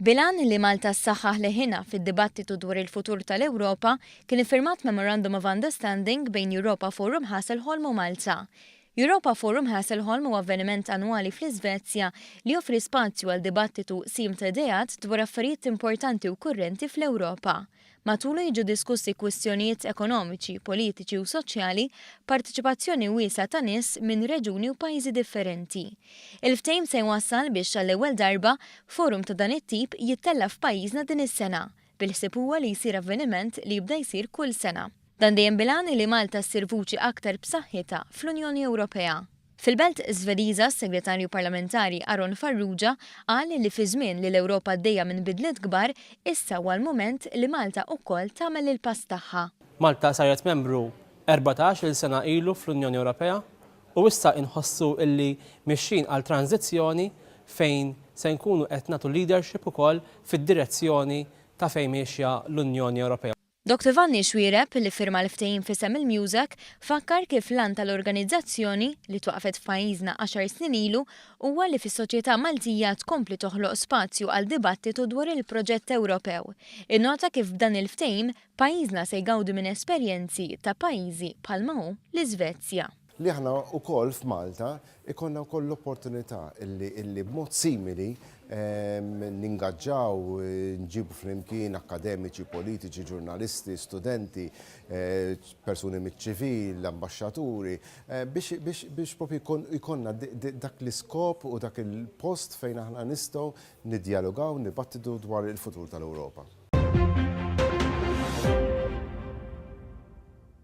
Bil-għan li Malta ssaħħaħ leħinha fid-dibattitu dwar il-futur tal-Ewropa, kien iffirmat Memorandum of Understanding bejn Europa Forum Hasselholm u Malta. Europa Forum Hasselholm huwa avveniment annwali fl-Iżvezja li joffri spazju għal dibattitu sim ta' ideat dwar affarijiet importanti u kurrenti fl-Ewropa. Matulu jiġu diskussi kwistjonijiet ekonomiċi, politiċi u soċjali b'parteċipazzjoni wiesgħa ta' nies minn reġuni u pajjiżi differenti. Il-ftehim se jwassal biex għall-ewwel darba forum ta' dan it-tip jittella' f'pajjiżna din is-sena, bil-ħsieb huwa li jsir avveniment li jibda jsir kull sena. Dan dejjem bil-għan li Malta ssir vuċi aktar b'saħħitha fl-Unjoni Ewropea. Fil-Belt Żvediża, s-Segretarju Parlamentari Aron Farrugia qal li fi żmien li l-Ewropa għaddejja minn bidliet kbar, issa huwa l-mument li Malta ukoll tagħmel il-pass tagħha. Malta saret membru erbatax il sena ilu fl-Unjoni Ewropea u issa inħossu illi mixjin għal tranżizzjoni fejn se nkunu qed nagħtu leadership ukoll fid-direzzjoni ta' fejn miexja l-Unjoni Ewropea. Doctor Vanni Xuereb, li ffirma l-ftehim f'isem il-MUSEC, fakkar kif l-għan tal-organizzazzjoni, li twaqqfet f'pajjiżna għaxar snin ilu, huwa li fis-soċjetà Maltija tkompli toħloq spazju għal dibattitu dwar il-proġett Ewropew. Innota kif b'dan il-ftehim, pajjiżna se jgawdi minn esperjenzi ta' pajjiżi bħalma hu l-Iżvezja. li aħna wkoll f'Malta jkollna wkoll l-opportunità li b'mod simili ningaġġaw, nġibu flimkien akkademiċi, politiċi, ġurnalisti, studenti, persuni miċ-ċivil, ambaxxaturi, biex propju jkollna dak l-iskop u dak il-post fejn aħna nistgħu niddjalogaw, nibattitu dwar il-futur tal-Ewropa.